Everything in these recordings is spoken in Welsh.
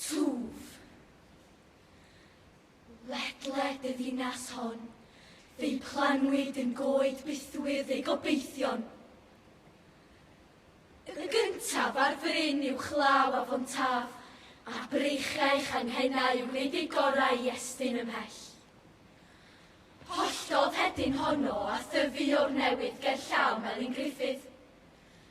Twf. Ledled y ddinas hon, fe'i planwyd yn goed bythwyrdd ei gobeithion. Y gyntaf ar fryn uwchlaw afon Taf, a breichiau changhennau yn gwneud eu gorau i estyn ymhell. Holltodd hedyn honno a thyfu o'r newydd gerllaw Melin Gruffydd.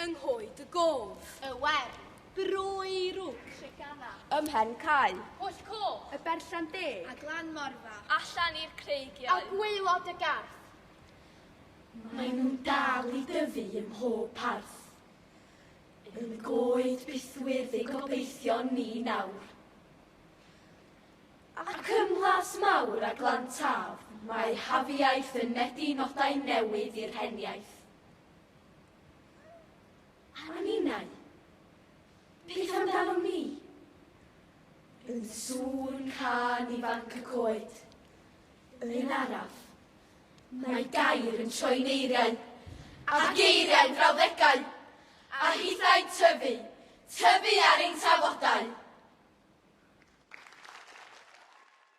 Yng nghoed y gof. Y wern. Brwy rwg. Treganna. Ym mhen cae. Pwll coch. Y berllan deg. A glan morfa. Allan i'r creigiau. A gwaelod y garth. Mae nhw'n dal i dyfu ym mhob parth. Yn y goed bythwyrdd ei gobeithio ni nawr. Ac ym mhlas mawr a glan taf, mae hafiaeth yn medi nodau newydd i'r heniaith. A ninnau? Beth amdanom ni? Yn sŵn can i fanc y coed. Yn araf, mae gair yn troi'n eiriau, a geiriau'n frawddegau, a hithau'n tyfu, tyfu ar ein tafodau.